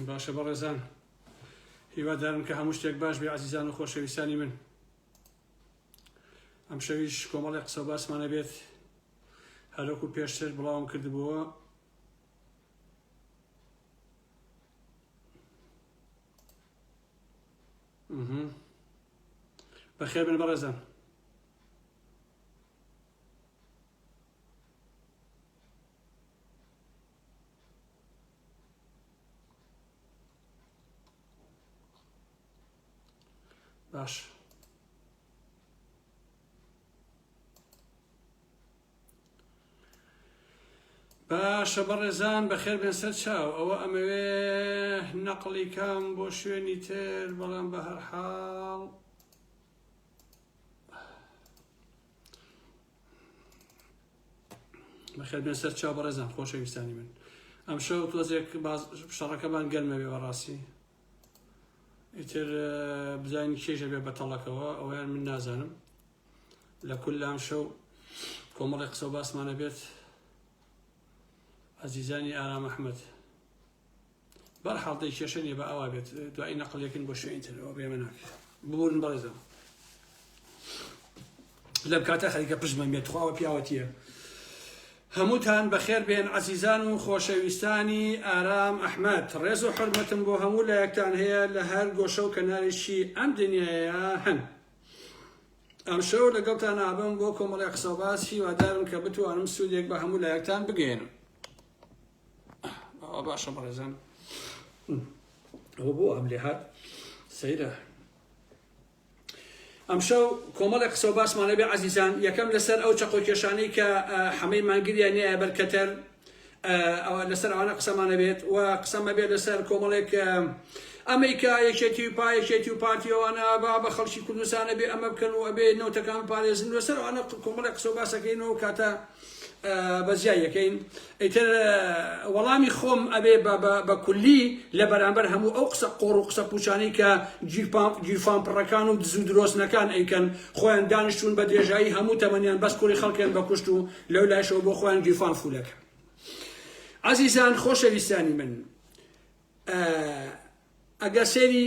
باشە بەڕێزان هیوادارم کە هەموو شتێک باش بێ عزیزان و خۆشەویستانی من ئەم شەویش کۆمەڵی قسە باسمانە بێت هەرۆکو پێشتر بڵاوم کردبووە بەخێ بن بەڕێزان باش باشە بەڕێزان بەخێر بێن سەر چاو ئەوە ئەمەوێ نەقلی کام بۆ شوێنی تر بەڵام بە هەرحاڵ بەخێر بێن سەر چاو بەڕێزان خۆشەویستانی من ئەم شەو تۆزێک شەڕەکەمان گەرمەوێ بەڕاستی ئیتر بزانین کێژە بێ بەتەڵەکەوە ئەویان من نازانم لە کول لام شەو کۆمەڵی قسە و باسمانە بێت ئەزیزانی ئارام ئەحمد بەرحاڵ دەی کێشە نیە بە ئەوا بێت دوایی نەقل یەکن بۆ شوێنی تر ئەوە بێمە ناکرێت ببوورن بەڕێزم لەم کاتە خەریکە پشمەم بێت خواوە پیاوەتیە هەمووتان بەخێر بێن عزیزان و خۆشەویستانی ئارام ئەحمد ڕێز و حرمەتم بۆ هەموو لە یەکتان هەیە لە هەر گۆشە و کەناریشی ئەم دنیاە هەن ئەم شەو لەگەڵتان ئابم بۆ کۆمەڵی قسەباس هیوادارم کە بتوانم سوودێک بە هەموو لایەکتان بگەێنم ئەوە باشە بەڕێزان ئەوە بۆ ئەم لێ هات سەیرە ئەمشەو کۆمەڵێک قسە و باسمانە بێ عزیزان یەکەم لەسەر ئەو چەقۆ کێشانەی کە حەمەی مانگریان نیە بەرکەتەر لەسەر ئەوانە قسەمانە بێت و قسەمە بێت لەسەر کۆمەڵێک ئەمریکا یەکێتی و پایەکێتی و پارتیەوەوانە با بە خەڵکی کوردستانە بێ ئەمە بکەن و ئەبێ نەوتەکان پارێزن لەسەر ئەوانە کۆمەڵێک قسە و باسەکەین و کاتە بەجیا یەکەین ئیتر وەڵامی خۆم ئەبێ بە کولی لە بەرامبەر هەموو ئەو قسە قۆڕ و قسە پوچانەی کە گیرفان پڕەکان و دزو درۆستنەکان ئەیکەن خۆیان دانیشتون بە درێژایی هەموو تەمەنیان بەس کوری خەڵکێن بە کوشت و لەو لایشەوە بۆ خۆیان گیرفان فولەکە عزیزان خۆشەویستانی من ئەگەر سێری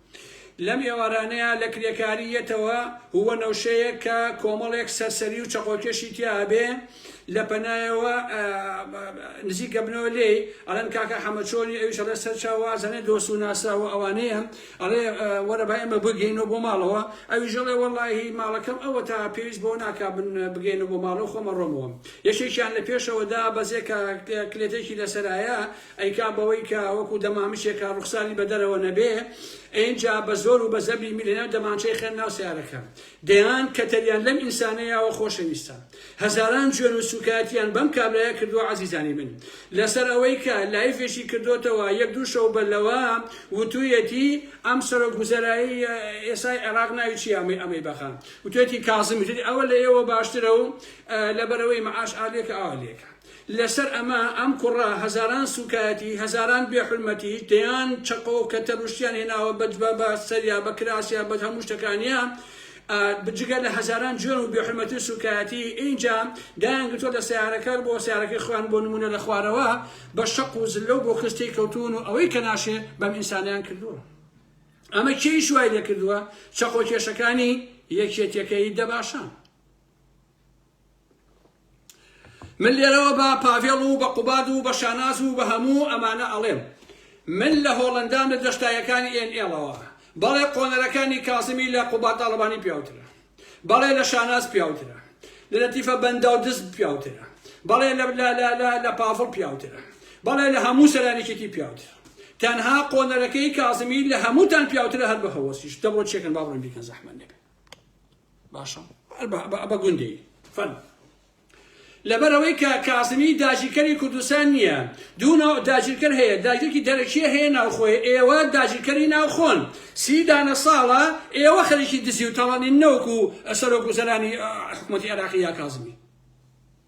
لەم ئێوارانەیا لە کرێکاری یەتەوە هووە نەوشەیەک کە کۆمەڵێک سەرسەری و چەقۆکێشی تیا ئەبێ لە پەنایەوە نزیک ئەبنەوە لێی ئەڵێن کاکە حەمە چۆنی ئەویش ئەڵێ سەر چا وازەنێ دۆست و ناسراوە ئەوانەیە ئەڵێ وەرە با ئێمە بگەینەوە بۆ ماڵەوە ئەویش ئەڵێ وەڵاهی ماڵەکەم ئەوە تا پێویست بۆ ناکا بن بگەینە بۆ ماڵەوە خۆمە ڕۆمەوە یەکێکیان لە پێشەوەدا بەزێ کە کلێتێکی لەسەرایە ئەی کا بەوەی کە وەکو دەمامکێکە ڕوخساری بە دەرەوە نەبێ ئەینجا بە زۆر و بە زەبری میلە ناو دەمانچەی خەن ناو سەیارەکە دەیان کەتەریان لەم ئینسانەیاوە خۆشەویستە هەزاران جوێن و سوکایەتیان بەم کابرایە کردوە عەزیزانی من لەسەر ئەوەی کە لایفێکی کردۆتەوە یەک دوو شەو بە لەوە وتویەتی ئەم سەرۆک وزەرایی ئێسای عێراق ناوی چیە ئەمەی ئەمەی بەخا وتوێتی کازم وتێتی ئەوە لە ئێوە باشترە و لەبەرەوەی معاش ئالێکە ئالێکە لەسەر ئەمە ئەم کوڕە هەزاران سوکایەتی هەزاران بێ حورمەتی دەیان چەقۆ و کەتەر و شتیان هێناوە بە جبە بە سەریا بە کراسیا بە هەموو شتەکانیا جگە لە هەزاران جوێن و بێ حورمەتی و سوکایەتی ئینجا دایان گرتووە لە سیارەکە بۆ سیارەکەی خۆیان بۆ نمونە لە خوارەوە بە شەق و زلە و بۆ کستەی کەوتون و ئەوەی کە ناشێ بەم ئینسانیان کردووە ئەمە کێی شوای لێ کردووە چەقۆ کێشەکانی یەکێتیەکەی دەباشان من لێرەوە بە پاڤێڵ و بە قوباد و بە شاناز و بە هەموو ئەمانە ئەڵێم من لە هۆڵەندام لە دەشتایەکانی ئێن ئێڵەوە بەڵێ قۆنەرەکانی کازمی لە قوباد تاڵەبانی پیاوترە بەڵێ لە شاناز پیاوترە لە لەتیفە بەنداو دز پیاوترە بەڵێ لە لە لە لە لە پاڤڵ پیاوترە بەڵێ لە هەموو سەرانێکێکی پیاوترە تەنها قۆنەرەکەی کازمی لە هەمووتان پیاوترە هەر بە هەوەسیش دەبڕۆ چێکن با بڕۆین بیکەن زەحمەت نەبێ باشە بە گوندی فەن لەبەرەوەی کە کازمی داگیرکەری کوردستان نییە دوو ناو داگیرکەر هەیە داگیرکی دەرەکیە هەیە ناوخۆی ئێوە داگیرکەری ناوخۆن سی دانە ساڵە ئێوە خەریکی دزی و تەڵەنی نەوەکو سەرۆک وزەرانی حکوومەتی عێراقی یا کازمی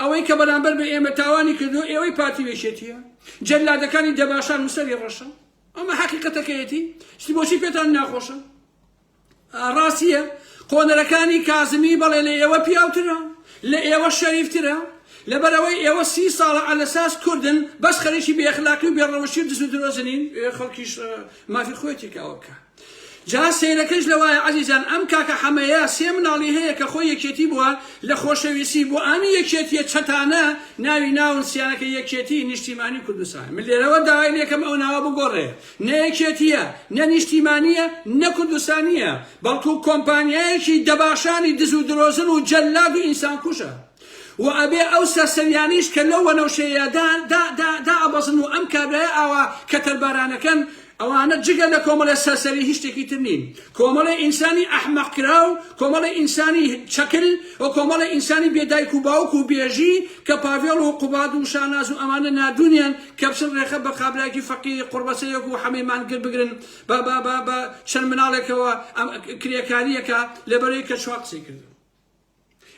ئەوەی کە بەرامبەر بە ئێمە تاوانی کردووە ئێوەی پارتی وێشێتیە جەلادەکانی دەباشان و سەری ڕەشە ئەمە حەقیقەتەکەیەتی شتی بۆچی پێتان ناخۆشە ڕاستیە قۆنەرەکانی کازمی بەڵێ لە ئێوە پیاوترە لە ئێوە شەریفترە لەبەرەوەی ئێوە سی ساڵە ئەلەساس کوردن بەس خەریکی بێخلاقی و بێڕەوشی و دز و درۆزنین خەڵکیش مافی خۆێتی کاوە بکە جا سەیرەکەش لەوایە عەزیزان ئەم کاکە حەمەیە سێ مناڵی هەیە کە خۆی یەکێتی بووە لە خۆشەویستی بۆ ئەم یەکێتیە چەتانە ناوی ناون سیانەکە یەکێتی نیشتیمانی کوردستان من لێرەوە داوای لێکەم ئەو ناوە بگۆڕێ نە یەکێتیە نە نیشتیمانیە نە کوردستانیە بەڵکو کۆمپانیایەکی دەباشانی دز و درۆزن و جەلاد و ئینسان کوژە وە ئەبێ ئەو سەرسەریانەیش کە لەو وەنەوشەیەیا دا دا دا دائەبەزن و ئەم کابرایە ئاوا کەتەر بارانەکەن ئەوانە جگە لە کۆمەڵێ سەرسەری هیچ شتێکی تر نین کۆمەڵێ ئینسانی ئەحمەق کراو کۆمەڵێ ئینسانی چەکل و کۆمەڵێ ئینسانی بێ دایک و باوک و بێژی کە پاڤێڵ و قوباد و شاناز و ئەمانە نادونیان کە بچن رێخە بە قابراکی فەقیری قوڕبەسەیەک و حەمەی مانگر بگرن بە بە بە بە چەند مناڵێکەوە ئەم کرێکارییەکە لەبەرەی کە چوا قسەی کردن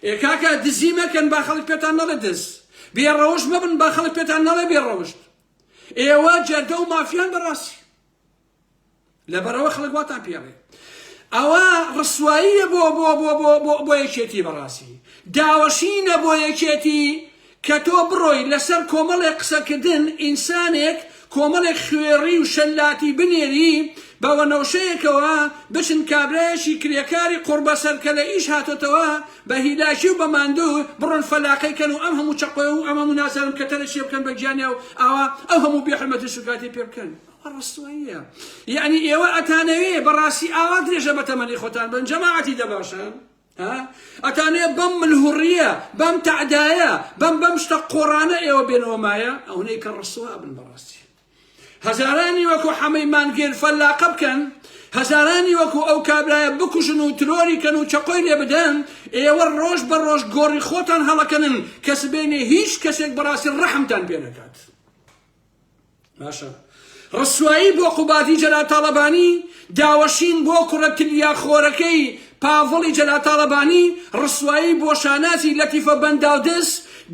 ئێ کاکە دزی مەکەن با خەڵک پێتان نەڵێ دز، بێ ڕەوشت مەبن با خەڵک پێتان نەڵێ بێ ڕەوشت، ئێوە جەردە و مافیان بەڕاستی لەبەرەوە خەڵک واتان پێڵێ ئەوە ڕسواییە بۆ بۆ بۆ بۆ بۆ بۆ یەکێتی بەڕاستی داوەشینە بۆ یەکێتی کە تۆ بڕۆی لەسەر کۆمەڵێک قسەکردن ئینسانێک کۆمەڵێک خوێڕی و شەلاتی بنێری بە وەنەوشەیەکەوە بچن کابرایەکی کرێکاری قوڕبەسەر کە لە ئیش هاتۆتەوە بە هیلاکی و بە ماندوو بڕۆن فەلاقەی کەن و ئەم هەموو چەقۆ و ئەم هەموو نازانم کەتەرە چیە بکەن بە گیانیا و ئاوا ئەو هەموو بێ حورمەتی و سوکاتی پێ بکەن ئەوە ڕەستواییە یەعنی ئێوە ئەتانەوێ بەڕاستی ئاوا درێژە بە تەمەنی خۆتان بەن جەماعەتی دەباشان. ها ئەتانێ بەم ملهوڕیە بەم تەعدایە بەم بەم شتە قۆڕانە ئێوە بێنەوە مایە ئەونەی کە ڕسووا بن بەڕاستی هەزارانی وەکو حەمەی مانگێر فەلاقە بکەن هەزارانی وەکو ئەو کابرایە بکوژن و ترۆری کەن و چەقۆی لێ بدەن ئێوە ڕۆژ بە ڕۆژ گۆڕی خۆتان هەڵەکەنن کە سبێنێ هیچ کەسێک بەڕاستی ڕەحمتان پێ نەکات باشە ڕسوایی بۆ قوبادی جەلاتاڵەبانی داوەشین بۆ کوڕە تلیا خۆرەکەی پاڤڵی جەلاتاڵەبانی ڕسوایی بۆ شانازی لەتیفە بەنداودز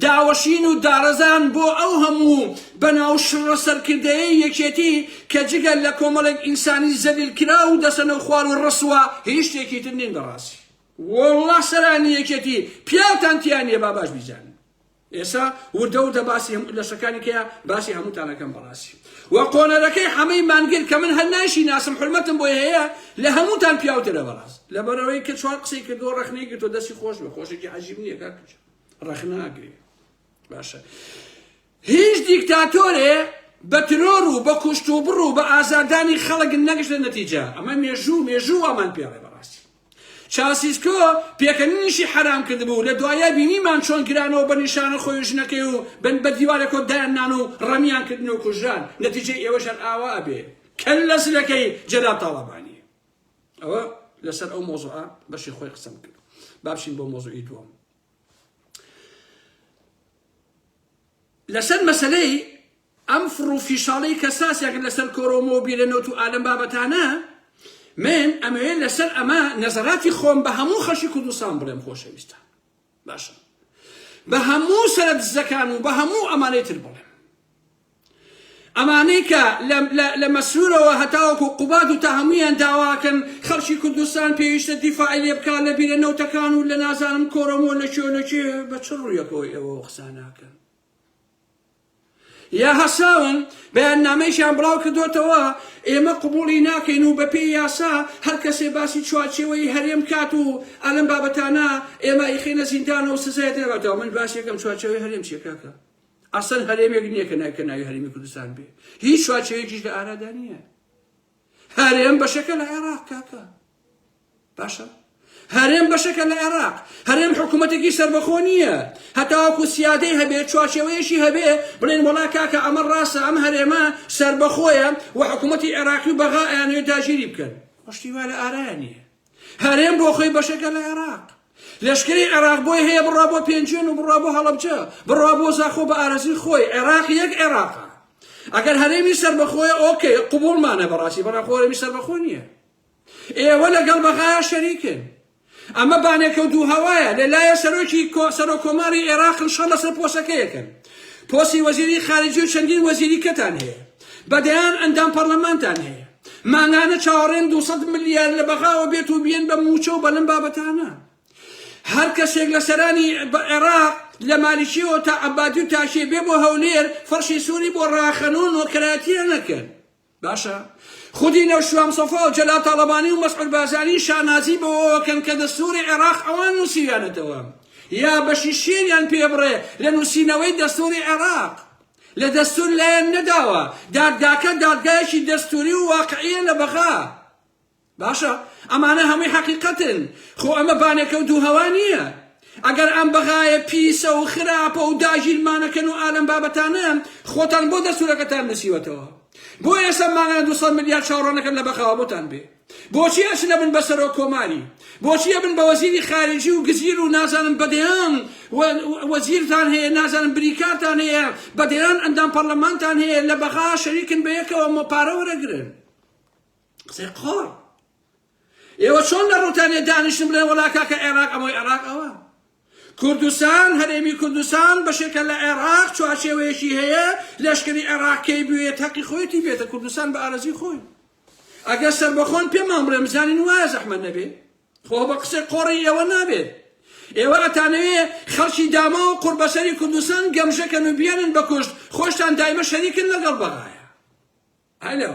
داوەشین و دارەزان بۆ ئەو هەموو بەناو شڕە سەرکردەیە یەکێتی کە جگە لە کۆمەڵێک ئینسانی زەلیل کرا و دەسەنە و خوار و ڕسوە هیچ شتێکی تر نین بەڕاستی وەڵڵا سەرانی یەکێتی پیاوتان تیا نییە با باش بیزانن ئێسا وردە وردە باسی هەموو لەشەکانی کەیە باسی هەمووتان ئەکەم بەڕاستی وە قۆنەرەکەی حەمەی مانگر کە من هەر نایشی ناسم حرمەتم بۆی هەیە لە هەمووتان پیاوترە بەڕاست لەبەرەوەی کە چوار قسەی کردو ڕەخنەی گرتو دەستی خۆش بە خۆشێکی عەجیب نییە کاک کچ ڕەخنە ئەگرێ باشە هیچ دیکتاتۆرێ بە ترۆر و بە کوشت و بڕ و بە ئازادانی خەڵک نەگەشتە نەتیجە ئەمە مێژوو مێژوو وامان پێڵێ بەڕاستی چاوسیسکۆ پێکەنینیشی حەرام کردبوو، لە دواییە بینیمان چۆن کرانەوە بە نیشانە خۆی و ژنەکەی و بن بە دیوارێکۆ دایان نان و ڕمیان کردن و کوژران، نەتیجەی ئێوەش هەر ئاوا ئەبێ کەللە زلەکەی جەلال تاڵەبانی. ئەوە لەسەر ئەو مەوزوعە بەشی خۆی قسەم کرد. با بچین بۆ مەوزوعی دووەم. لەسەر مەسەلەی ئەم فڕ و فیشاڵەی کە ساس یەکن لە سەر کۆرۆمۆ و بیرە نۆت و ئالەم بابەتانە، من ئەمەوێ لە سەر ئەمە نەزەراتی خۆم بە هەموو خەشی کوردستان بڵێم خۆشەویستان باشە بە هەموو سەرە دزەکان و بە هەموو ئەمانەی تر بڵێم ئەمانەی کە لە مەسرورەوە هەتاوەکو و قوباد و تا هەمویان داواکەن خەڵکی کوردستان پێویستە دیفاعی لێ بکات لە بیرە نەوتەکان و لە نازانم کۆرۆمۆ لە چۆ لە چێ بە چ ڕوویەکەوە ئێوە قساناکەن یا هەساون بەیاننامەیەکیان بڵاوکردۆتەوە ئێمە قبوڵی ناکەین و بەپێی یاسا هەرکەسێ باسی چوارچێوەیی هەرێم بکات و ئەلەم بابەتانە ئێمە ئەیخەینە زیندانەوە و سزای دەرەبەتەوە من باسی یەکەم چوارچێوەی هەرێم چیە کاکە ئەسەن هەرێمێک نییە کە ناوی کە ناوی هەرێمی کوردستان بێ هیچ چوارچێوەیەکیش لە ئارادا نییە هەرێم بەشەکە لە عێراق کاکە باشە هەرێم بەشەکە لە عێراق هەرێم حکوومەتێکی سربەخۆ نییە هەتاوەکو سیادەی هەبێ چوارچێوەیەشی هەبێ بڵێن وڵا کاکە ئەمە ڕاستە ئەم هەرێمە سربەخۆیە و حکوومەتتی عێراقی و بەغا ئەیانەوێت داگیری بکەن پشتی وا لە ئارایە نییە هەرێم بۆ خۆی بەشێکە لە عێراق. لەشکری عێراق بۆی هەیە بڕوا بۆ پێنجوێن و بڕوا بۆ هەڵەبجە، بڕوا بۆ زاخۆ بە ئارەزووی خۆی، عێراق یەک عێراقە. ئەگەر هەرێمی سەربەخۆیە ئۆکەی، قبووڵمانە بەڕاستی، بەڵام خۆ هەرێمی سەربەخۆ نییە. ئێوە لەگەڵ بەغایا شەریکن. ئەمە بانێکە و دوو هەوایە، لە لایە سەرۆکی سەرۆک کۆماری عێراقن شەڕ لەسەر پۆسەکەیەکن. پۆسی وەزیری خارجی و چەندین وەزیری کەتان هەیە. بە دەیان ئەندام پەڕلەمانتان هەیە. مانگانە چاوەڕێن دوو سەد ملیار لە بەغاوە بێت و بێن بە مووچە و بە لەم بابەتانە هەر کەسێک لە سەرانی عێراق لە مالیکیەوە تا عەبادی و تاشێ بێ بۆ هەولێر فەرشی سووری بۆ ڕاخەنۆ نۆکەراتیە نەکەن باشە خودی نەو شوام سەفا و جەلا تاڵەبانی و مەسعود بازانی شانازی بەوەکەن کە دەستوری عێراق ئەوان نووسیویانەتەوە یا بەشی شێریان پێ بڕێ لە نووسینەوەی دەستوری عێراق لە دەستور لایان نەداوە، دادگاکە دادگایەکی دەستوری و واقعیە لە بەغا. باشە ئەمانە هەموی حەقیقەتن، خۆ ئەمە بانەکەو دوو هەوا نیە. ئەگەر ئەم بەغایە پیسە و خراپە و داگیرمانەکەن و ئالەم بابەتانە خۆتان بۆ دەستورەکەتان نوسیوەتەوە؟ بۆ ئێسە مانگانە دوو سەد ملیار چاوڕەنەکەن لە بەغاوە بۆتان بێ؟ بۆچی ئەچنە بن بە سەرۆک کۆماری بۆچی ئەبن بە وەزیری خارجی و گزیر و نازانم بەدەیان وەزیرتان هەیە نازانم بریکارتان هەیە بەدەیان ئەندام پەرلەمانتان هەیە لە بەغا شەریکن بە یەکەوە مە پارە وەرەگرن قسەی قۆڕ ئێوە چۆن لە ڕوتانێ دانیشتن بڵێ وەڵا کاکە عێراق ئەمەی عێراق ئەوە کوردستان، هەرێمی کوردستان بەشێکە لە عێراق، چوارچێوەیەکی هەیە، لەشکری عێراق کەی بوێت هەقی خۆیەتی بێتە کوردستان بە ئارەزوی خۆی. ئەگەر سەربەخۆن پێمان بڵێن بزانین وایە زەحمەت نەبێ؟ خۆ بە قسەی قۆڕی ئێوە نابێت. ئێوە ئەتانەوێ خەڵکی داماو و قوڕبەسەری کوردستان گەمژەکەن و بیانن بە کوشت، خۆشتان دایمە شەریکن لەگەڵ بەغایە. هەلۆ.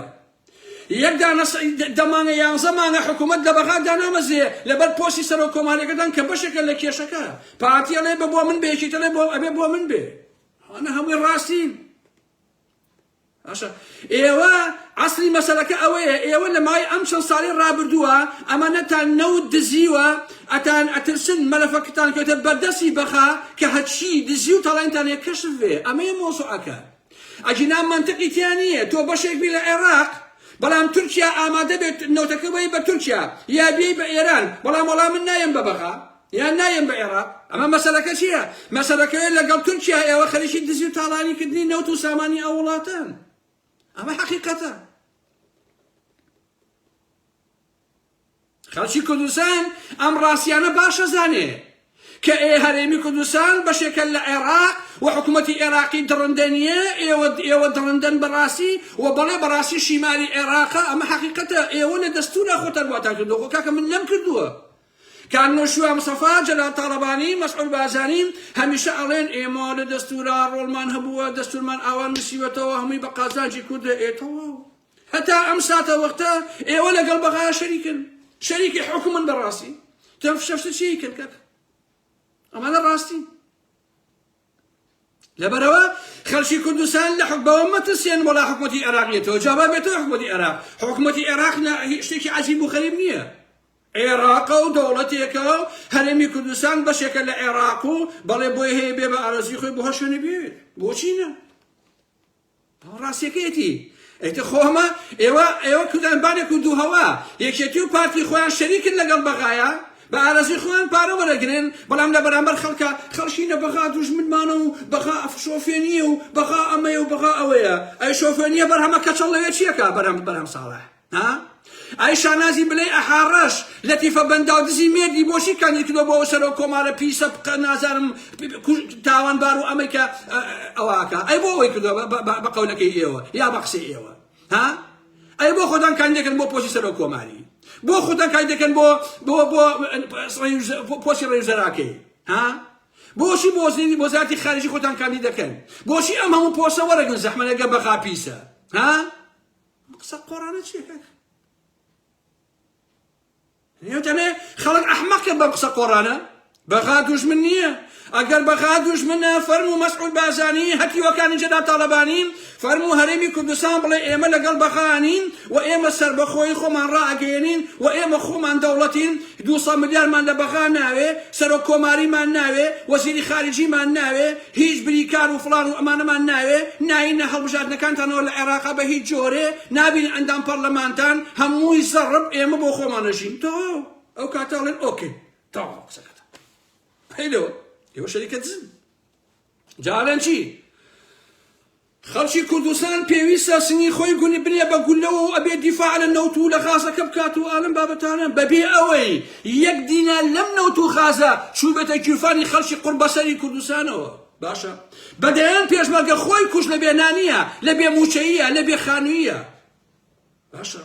یەک دانە سە دە مانگە یانزە مانگە حکوومەت لە بەغا دانامەزرێ لەبەر پۆستی سەرۆک کۆمارەکەتان کە بەشێکە لە کێشەکە پارتی ئەڵێ بە بۆ من بێ یەکێتی ئەڵێ بۆ ئەبێ بۆ من بێ ئەنە هەمووی ڕاستین باشە ئێوە عسلی مەسلەکە ئەوەیە ئێوە لە مای ئەم چەند ساڵی ڕابردووە ئەمانەتان نەوت دزیوە ئەتان ئەترسن مەلەفەکتان کەوتە بەردەسی بەخا کە هەچی دزی و تاڵێنتانێ کەشف بێ ئەمەیە مۆزوعەکە ئەگینا مەنتقی تیا نیە تۆ بەشێک بی لە عێراق بەڵام تورکیا ئامادە بێت نەوتەکە بەی بە تورکیا یا بێی بە ئێران بەڵام وەڵام من نایەم بە بەغا یان نایەم بە عێراق ئەمە مەسەلەکە چییە مەسەلەکەوێت لەگەڵ تورکیا ئێوە خەریکی دزی و تاڵانیکردنی نەوت و سامانی ئەو وڵاتان ئەمە حەقیقەتە خەڵکی کوردستان ئەم ڕاستیانە باش ئەزانێ کە ئێ هەرێمی کوردستان بەشێکە لە عێراق و حکوومەتی عێراقی دڕندە نییە ئێوە ئێوە دڕندەن بەڕاستی و بەڵێ بەڕاستی شیمالی عێراقە ئەمە حقیقەتە ئێوە لە دەستورە خۆتان واتان کردو خۆ کاکە من لەم کردووە کان نۆشوا مسەفا جەلال تاڵەبانی مەسعود بازانی هەمیشە ئەڵێن ئێمە لە دەستورا ڕۆڵمان هەبووە دەستورمان ئاوا نووسیوەتەوە هەمووی بە قازانجی کوردە ئێتەوە هەتا ئەم ساتە وەختە ئێوە لەگەڵ بەغا شەریکن شەریکی حکومن بەڕاستی تەم فشەفشە چی کرد کاکە ئەمانە ڕاستی لەبەرەوە خەلکی کوردستان لە حکبەوە مەترسیێن وەڵا حکوومەتی عێراقیێتەوە جاابا بێتەوە حکوومەتی عێراق حکوومەتی عێراق شتێکی عجیب و خەریب نییە عێراقە و دەوڵەتێکە و هەرێمی کوردستان بەشێکە لە عێراق و بەڵێ بۆی هەیە بێ بە ئارزی خۆی بۆ هەشوێنە بێت بۆچینە ڕاستیەکەیەتی ئیتر خۆ ئەمە ئێوە ئێوە کوردان بانێ کورد و هەوا یەکێتی و پارتی خۆیان شەریکن لەگەڵ بەغایە بە ئارەزوی خۆیان پارە وەرەگرن بەڵام لە بەرامبەر خەڵکە خەڵکینە بەغا دوژمنمانە و بەغا شۆفێنیە و بەغا ئەمەیە و بەغا ئەوەیە ئەی شۆفێنیە بەرهەمە کەچەڵ لەوێ چیەکا بەرهەم بەرهەم ساڵح ها ئای شانازی بلەی ئەحا ڕەش لەتیفە بەنداو دزی مێردی بۆچی کاندید کردۆ بۆ سەرۆک کۆمارە پیسە بقە نازانم تاوان بار و ئەمەی کە ئەوەکە ئەی بۆ ئەوەی کردۆ بە قەولەکەی ئێوە یا بە قسەی ئێوە ها ئەی بۆ خۆتان کاندێکن بۆ پۆسی سەرۆک کۆماری بۆ خۆتان کای دەکەن بۆ بۆ بۆ پۆسی ڕێوزەراکەی ها بۆشی بۆزنی بۆزاتی خارجی خۆتان کاندی دەکەن بۆشی ئەم هەموو پۆسە وەرەگن زەحمەەگە بەخا پیسە ها قسە قۆڕانە چیە کاکە نێوتەمێ خەڵک ئەحمەقە بەم قسە قۆڕانە بەغا دوژمن نییە ئەگەر بەغا دوژمنە فەرم و مەسعود بازانی هەتیوەکانی جەدا تاالبانین فەرم و هەرێمی کوردستان بڵێ ئێمە لەگەڵ بەغانین و ئێمە سربەخۆی خۆمان ڕاگەێنین و ئێمە خۆمان دەوڵەتین دو ملیارمان لە بەغا ناوێ سەرۆک کۆماریمان ناوێ وەزیری خارجیمان ناوێ هیچ بریکار و فڵان و ئەمانەمان ناوێ ناینە هەڵبژاردنەکانتانەوە لە عێراقا بە هیچ جۆرێ نابین ئەندام پەڕلەمانتان هەمووی زەڕب ئێمە بۆ خۆمان ئەژین تەواو ئەو کاتە ئەڵێن ئۆکەی تەواو قسەکەتان پەیلەوە ئێوە شەریکە دزن جارێن چی خەڵکی کوردستان پێویستە سنگی خۆی گونی بنێ بە گوللەوە و ئەبێ دیفاع لە نەوت و لە غازەکە بکات و ئالەم بابەتانە بەبێ ئەوەی یەک دینار لەم نەوت و غازە چووبێتە گیرفانی خەڵکی قوڕبەسەری کوردستانەوە باشە بە دەیان پێشمەرگە خۆی کوژ لە بێ نانیە لە بێ مووچەییە لە بێ خانوویە باشە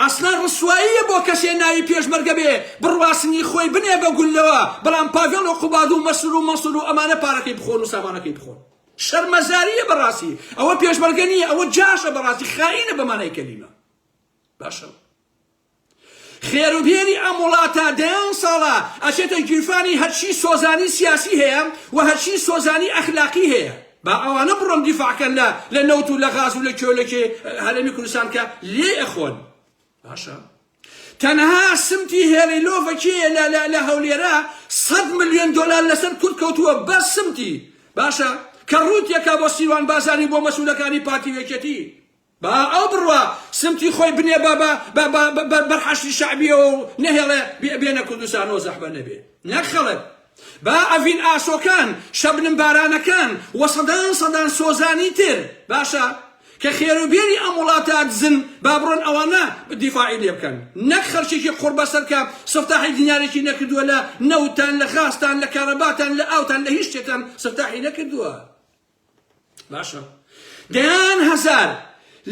ئەسڵەن ڕسواییە بۆ کەسێ ناوی پێشمەرگە بێ بڕواسنی خۆی بنێ بە گوللەوە بەڵام پاڤێڵ و قوباد و مەسرور و مەنسور و ئەمانە پارەکەی بخۆن و سامانەکەی بخۆن شەرمەزاریە بەڕاستی ئەوە پێشمەرگە نیە ئەوە جاشە بەڕاستی خائینە بەمانای کەلیمە باشە خێروبێری ئەم وڵاتە دەیان ساڵە ئەچێتە گیرفانی هەرچی سۆزانی سیاسی هەیە و هەرچی سۆزانی ئەخلاقی هەیە با ئەوانە بڕۆن دیفاع کەن لە لە نەوت و لە غاز و لە کێ و لە کێ هەرێمی کوردستان کە لێ ئەخۆن باشە تەنها سمتی هێڵی لۆڤە کێیە لە لە لە هەولێرە سەد ملیۆن دۆلار لەسەر کورد کەوتووە بەس سمتی باشە کە ڕووتیەکە بۆ سیروان بازانی بۆ مەسوولەکانی پارتی وێکێتی با ئەو بڕوا سمتی خۆی بنێ بە بە بە بە بە بە بەر حەشدی شەعبیەوە و نەهێڵێ بێ بێنە کوردستان و زەحمەت نەبێ نەک خەڵک. با ئەڤین ئاسۆکان، شەبنم بارانەکان و سەدان سەدان سۆزانی تر باشە کە خێر و بێری ئەم وڵاتە دزن با بڕۆن ئەوانە دیفاعی لێ بکەن نەک خەرکێکی قوڕبەسەر کە سفتاحی دینارێکی نەکردووە لە نەوتتان لە غازتان لە کارەباتان لە ئاوتان لە هیچ شتێکتان سفتاحی نەکردووە. باشە دەیان هەزار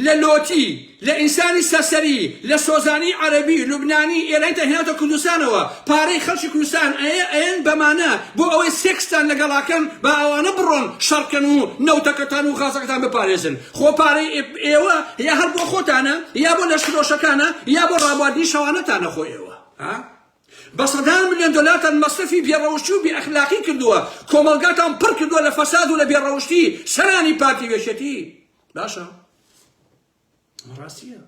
لە لۆتی لە ئینسانی سەرسەری لە سۆزانی عەرەبی لوبنانی ئێرانی تا هێناوتە کوردستانەوە پارەی خەڵکی کوردستان ئەیە ئەیەن بەمانە بۆ ئەوەی سێکستان لەگەڵاکەن با ئەوانە بڕۆن شەڕکەن و نەوتەکەتان و غازەکەتان بپارێزن خۆ پارەی ئێوە یا هەر بۆ خۆتانە یا بۆ لەشکرۆشەکانە یا بۆ ڕابواردنی شەوانەتانە خۆ ئێوە ها بە سەدان ملیۆن دۆلارتان مەسرەفی بێ ڕەوشتی و بێ ئەخلاقی کردووە، کۆمەڵگاتان پڕ کردووە لە فەساد و لە بێ ڕەوشتی، سەرانی پارتی و یەکێتی. باشە. ئەمە ڕاستییە.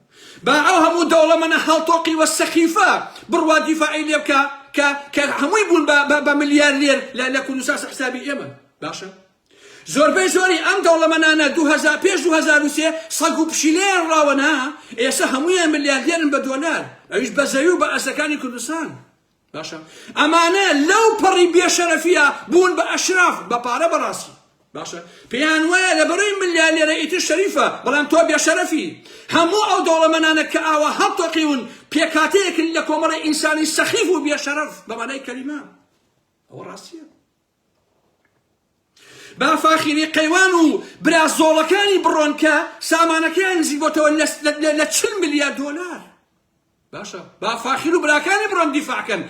با ئەو هەموو دەوڵەمەنە هەڵتۆقی و سەخیفە بڕوا دیفاعی لێ بکا کە کە هەمووی بوون بە بە ملیارلێر لە لە کوردستان سەر حسابی ئێمە. باشە. زۆربەی زۆری ئەم دەوڵەمەنانە دوو هەزار پێش دوو هەزار و سێ سەگ و پشیلەیان ڕاوە نا ئێسە هەموویان ملیاردێرن بە دۆلار ئەویش بە زەوی و بە ئەرزەکانی کوردستان باشە ئەمانە لەو پەڕی بێشەرەفیە بوون بە ئەشراف بە پارە بەڕاستی باشە پێیان وایە لە بەڕی ملیالێرە ئیتر شەریفە بەڵام تۆ بێشەرەفی هەموو ئەو دەوڵەمەنانە کە ئاوا هەڵتۆقیون پێکاتەیەکن لە کۆمەڵی ئینسانی سەخیف و بێشەرەف بەمانای کەلیمە ئەوە ڕاستیە با فاخیری قەیوان و برا زۆڵەکانی بڕۆن کە سامانەکەیان نزیک بۆتەوە لە چل ملیار دۆلار باشە با فاخیر و براکانی بڕۆن دیفاعکەن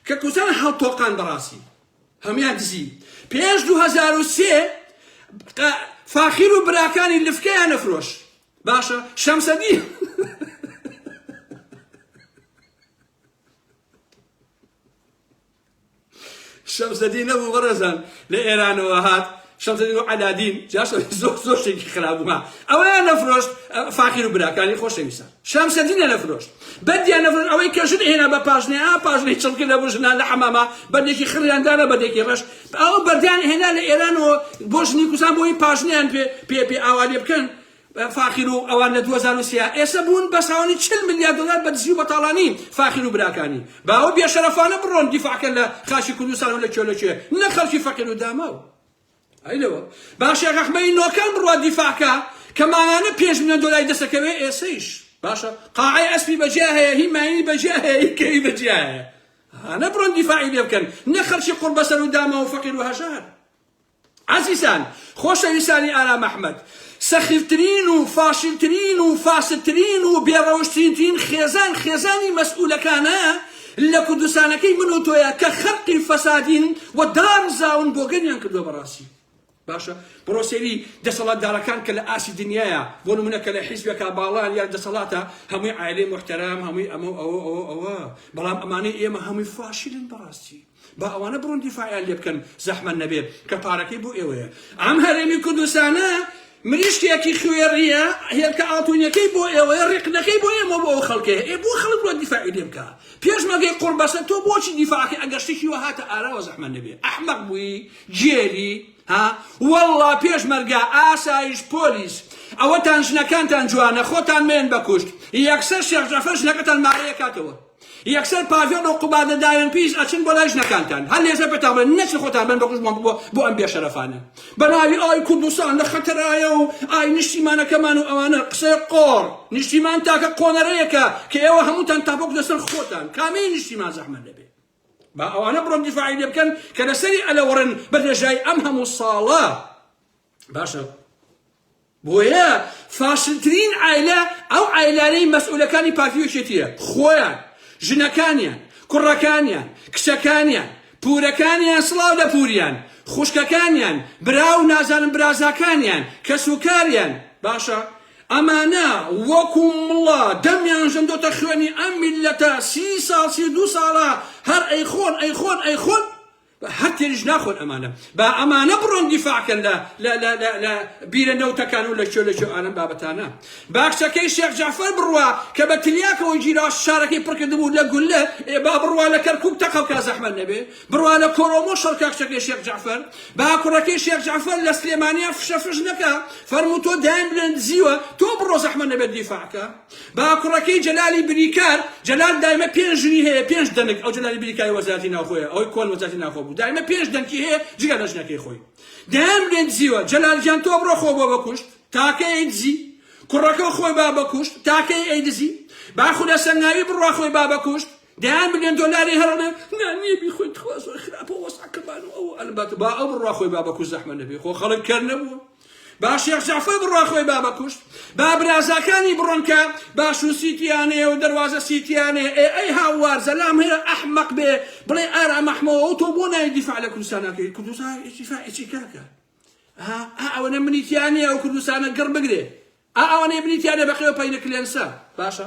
کە کوتان هەڵتۆقان بەڕاستی هەمان دزی پێش 2023 فاخیر و براکانی لفکەیان نەفرۆش باشە شەمسەدی شەمسەدین نەبوو بەڕێزان لە ئێرانەوە هات شەمسەدین و عەلادین جاش زۆر زۆر شتێکی خراپبووە ئەوەیان نەفرۆشت فاقیر و براکانی خۆشەویستان شەمسەدینە نەفرۆشت بەندیان نەفرۆشت ئەوەی کە ژن هێنا بە پاشنێ ئا پاشنەی چڵکە لە بۆ ژنان لە حەمامە بەندێکی خڕیاندانە بەندێکی ڕەش ئەو بەردیان هێنا لە ئێرانەوە بۆ ژنی کوسان بۆی پاشنیان پێ پێ پێ ئاوا لێ بکەن فاخیر و ئەوان لە دوو هەزار و سێ ئێسە بوون بە ساوانی چل ملیار دۆلار بە دزی و بەتاڵانی فاخیر و براکانی باوە بێشەرەفانە بڕۆن دیفاع کەن لە خاکی کوردستان و لە کێ لە کێ نەک خەڵکی فەقیر و داماو ئەی لەوە با شێخ ئەحمەدی نۆکان بڕوا دیفاع کا کە مانانە پێنج ملیۆن دۆلاری دەسەکەوێ ئێسەیش باشە قاعەی ئەسپی بەجیا هەیە هی ماینی بەجیا هەیە هی کەوی بەجیا هەیە هانە بڕۆن دیفاعی لێ بکەن نە خەڵکی قوڕبەسەر و داما و فەقیر و هەژار ئازیزان خۆشەویستانی ئارام ئەحمەد سەخیفترین و فاشلترین و فاسدترین و بێ ڕەوشتترین خێزان خێزانی مەسئولەکانە لە کوردستانەکەی من و تۆیە کە خەرقی فەسادین و دار زاون بۆگەنیان کردووە بەڕاستی باشە بڕۆ سێری دەسەڵاتدارەکان کە لە ئاسی دنیاە بۆ نمونە کە لە حیزبێکا باڵان یا دەسەڵاتە هەمووی عایلەی محتەرام هەمووی ئەمە ئەوە ئەوە ئەوە بەڵام ئەمانەی ئێمە هەمووی فاشلن بەڕاستی با ئەوانە بڕۆن دیفاعیان لێ بکەن زەحمەت نەبێ کە پارەکەی بۆ ئێوەیە ئەم هەرێمی کوردستانە مریشکێکی خوێڕیە هێلکە ئاڵتونیەکەی بۆ ئێوەیە ڕێقنەکەی بۆ ئێمە بۆ ئەو خەڵکێ ئێ بۆ خەڵک بۆ دیفاعی لێ بکە پێشمەگەی قڕ بەسە تۆ بۆچی دیفاعی ئەگەر شتێکی وە هاتە ئاراوە زەحمە نەبێ ئەحمەق بووی جێلی ها والله پێشمەرگە ئاسایش پۆلیس ئەوەتان ژنەکانتان جوانە خۆتان مێن بەکوشت یەکسەر شێخ جەفەر ژنەکەتان مارەیە کاتەوە یەکسەر پاڤێڵ و قوبادە داوێنپیس ئەچن بۆ لای ژنەکانتان هەر لێژە پێتان بڵێن نەچن خۆتان بەن بە قوژمان ببوە بۆ ئەم بێشەرەفانە بە ناوی ئای کوردستان لە خەتەرایە و ئای نیشتیمانەکەمان و ئەوانە قسەی قۆڕ نیشتیمان تاکە قۆنەرەیەکە کە ئێوە هەمووتان تاپۆک لەسەر خۆتان کامەی نیشتیمان زەحمەت لەبێ با ئەوانە بڕۆن دیفاعی لێ بکەن کە لەسەری ئەلەوەڕن بە درێژای ئەم هەموو ساڵە باشە بۆیە فاشلترین عیلە ئەو عیلانەی مەسئولەکانی پارتی وچێتیە خۆیان ژنەکانیان کوڕەکانیان کچەکانیان پورەکانیان سڵاو لە پوریان خوشکەکانیان برا و نازانم برازاکانیان کەس و کاریان باشە ئەمانە وەکو مڵە دەمیان ژندۆتە خوێنی ئەم میلەتە سی ساڵ سی دو ساڵە هەر ئەیخۆن ئەیخۆن ئەیخۆن با هەر تێریش ناخۆن ئەمانە با ئەمانە بڕۆن دیفاع کەن لە لە لە لە لە بیرە نەوتەکان و لە کوێ لە کوێ ئالەم بابەتانە با کچەکەی شێخ جەعفەر بڕوا کە بە تلیاکەوە گیرا شارەکەی پڕ کردبوو لە گوللە ئێ با بڕوا لە کەرکووک تەقە بکا زەحمەت نەبێ بڕوا لە کۆرۆمۆ شەڕ کا کچەکەی شێخ جەعفەر با کوڕەکەی شێخ جەعفەر لە سلێمانیان فشە فش نەکا فەرموو تۆ دایم بلێن دزیوە تۆ بڕۆ زەحمەت نەبێت دیفاع کە باکوڕەکەی جەلالی بریکار، جەلال دایمە پێنج ژنی هەیە پێنج دەنک، ئەو جەلالی بریکاری وەزارەتی ناوخۆیە ئەوەی کۆن وەزارەتی ناوخۆ بوو دایمە پێنج دەنکی هەیە جگە لە ژنەکەی خۆی دەیان بێ دزیوە جەلال گیان تۆ بڕۆ خۆ بۆ بەکوشت تاکە ئەی دزی کوڕەکە خۆی با بەکوشت تاکەی ئەی دزی باخودە سەنگاوی بڕوا خۆی با بەکوشت دەیان ملیۆن دۆلاری هەرەنە نا نییە بیخۆی تخوا زۆر خراپە وەسعەکەمان و ئەو ئەلبەت با ئەو بڕوا خۆی بابە کوش زەحمە نەبێ خۆ خەڵک کەر نەبوو با شێخ جعفەی بڕا خۆی بابە کوشت با برازاکانی بڕۆنکە باش و سیتیانێ و دەواازە سیتیانێ ئێ ئەی هاوار زەلام هەیە ئەحمەق بێ بڵێ ئارا مەحمەوە و تۆ بۆ نای دیفاع لە کوردستانەکەی کوردستان ئیفاعی کاکە ئەوەنە منیتیانە ئەو کوردستانە گڕ بگرێ ئەوانەی بریتیانە بەخێو پەینە کلێنسە باشە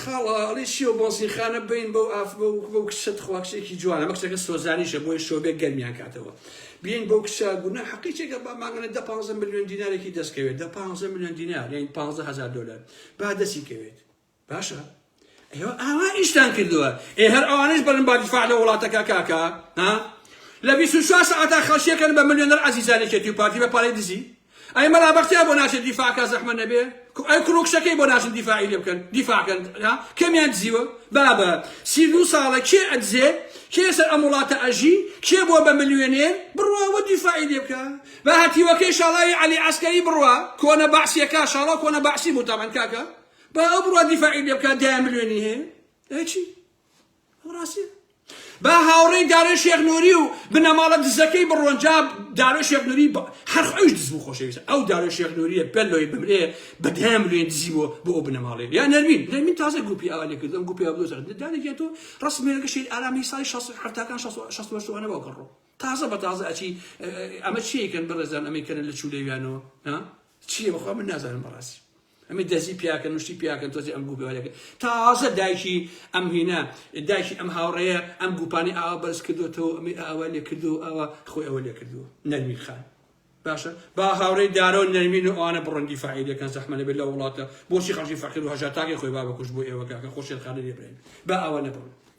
خاڵە ئەڵێی چیە بەنزین خانە بین بەو ئاف بەو بەو کچە تخوا کچێکی جوانە ئەمە کچەکە سۆزانیشە بۆیە شۆبێ گەرمیان کاتەوە بین بەو کچە گونا حەقی چێکە با ماگەنە دە پانزە ملیۆن دینارێکی دەستکەوێت دە پانزە ملیۆن دینار یان پانزە هەزار دۆلار با دەستی کەوێت باشە ئێوە ئاوا ئیشتان کردووە ئێ هەر ئەوانش بەرن با دیفاع لە وڵاتەکە کاکە ها لە 24 ساعتا خەڵشیەکەن بە ملیۆنەر عەزیزانێکێتی و پارتی بە پارەی دزی ئەی مەلا بەختیار بۆ ناچێت دیفاع کا زەحمەت نەبێ کو ئەی کوڕو کچەکەی بۆ ناچن دیفاعی لێ بکەن دیفاع کەن ها کەمیان دزیوە بابە سی و دوو ساڵە کێ ئەدزێ کێ سەر ئەم وڵاتە ئەژی کێ بووە بە ملیۆنێر بڕوا وە دیفاعی لێ بکە بە هەتیوەکەی شاڵاوی عەلی عەسکەری بڕوا کۆنە بەعسیەکە شاڵا کۆنە بەعسی بوو تەمەن کاکە با ئەو بڕوا دیفاعی لێ بکە دایان ملیۆنی هەیە ئەی چی ڕاستیە با هاوڕێی دارێ شێخ نوری و بنەماڵە دزەکەی بڕۆن جا دارێ شێخ نوری هەر خۆش دز بوو خۆشەویست ئەو دارێ شێخ نوریە پێ لۆی بمرێ بەدەم لێن دزی بۆ بۆ ئەو بنەماڵێ یا نەرمین نەرمین تازە گروپی ئاوا لێ کردم گروپی ئەو دۆزەر دارێکیان تۆ ڕسمێنەکە شیر ئارامی سای 16 هەفتاکان 16 شوانە باو کڕڕۆ تازە بە تازە ئەچی ئەمە چیەکەن بەڕێزان ئەمەی کەن لە چولێویانەوە چیە بەخوا من نازانم بەڕاستی ئەمی دەزی پیاکەن مشتی پیاکەن تۆزی ئەم گوپێوەێکە تازە دایکی ئەم هینە دایکی ئەم هاوڕەیە ئەم گوپانی ئاوا بەرز کردوێتەوە ئەمی ئاوا لێ کردو ئەوە خۆی ئەوە لێ کردووە نەرمین خان باشە با هاوڕێ دارەوە نەرمین و ئەوانە بڕەندی فعیلەکەن زەحمەە بێت لە وڵاتە بۆچی خەڵکی فەقیر و هەژاتاگەی خۆی بابکوش بۆ ئێوەگەکە خۆشێرخانە لێبرێن با ئەوە نەبڕن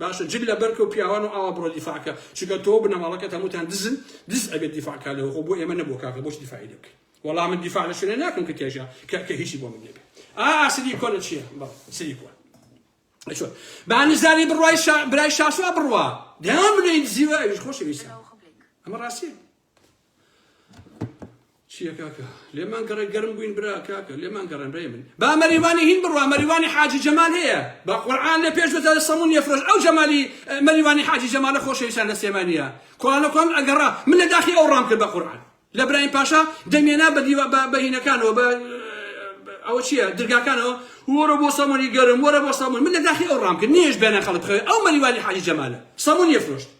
باشە جل لە بەرکە و پیاوان و ئاوا بڕۆ دیفاع کە چونکە تۆو بنەماڵەکەت هەمووتان دزن دز ئەبێت دیفاع کا لەوە خۆ بۆ ئێمە نەبووە کاکە بۆچ دیفاعی لێ بکەین وەڵا من دیفاع لە شوێنێ ناکەم کە تێژە کە کە هیچی بۆ من نەبێ ئا ئاسری کۆنە چییە بەڵ سری کۆن ئەچۆن با نزاری بڕوای شا برای شاسوا بڕوا دەیان بنێن زیوە ئەویش خۆشەویستە ئەمە ڕاستیە چیە کاکە لێمان گەڕێ گەرم بووین برا کاکە لێمان گەڕێن ڕێ من با مەریوانی هین بڕوا مەریوانی حاجی جەمال هەیە با قورعان لە پێش بەتە سەمون یەفرۆش ئەو جەمالی مەریوانی حاجی جەمالە خۆشەویستان لە سێمانە کوانە کوان ئەگەڕا من لە داخی ئەو ڕام کرد بە قورعان لە برایم پاشا دەمێنا بە دیوە بە بەهینەکانەوە بە ئەوە چییە درگاکانەوە وەرە بۆ سەمونی گەرم وەرە بۆ سەمون من لە داخی ئەو ڕام کرد نیش بێنە خەڵک خەوێ ئەو مەریوانی حاجی جەمالە سەمون یەفرۆشت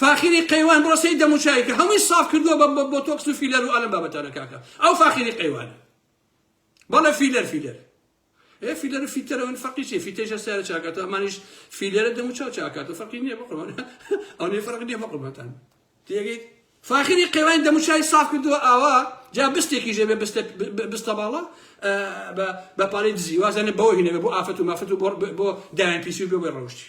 فاخیری قەیوان بڕۆسەی دەموچاوی کە هەمووی ساف کردووە بە بە بۆتۆکس و فیلەر و ئالم بابەتانە کاکە ئەو فاخیری قەیوانە بەڵێ فیلەر فیلەر ئێ فیلەر و فیتەرە من فەقی چێ فیتەیشە سارە چاکاتە ئەمانیش فیلەرە دەموچاو چاکاتە فەرقی نییە بەقڕوان ئەو نێ فەرق نییە بەقڕبەتان تێگەیت فاخیری قەیوان دەموچای ساف کردووە ئاوا جا بستێکی ژێبێ بستە بستە باڵا بە پارەی دزی وازانە بەوە هینەوە بۆ ئافەت و مافەت و بۆ دایان پیسی و بێ بێ ڕەوشتی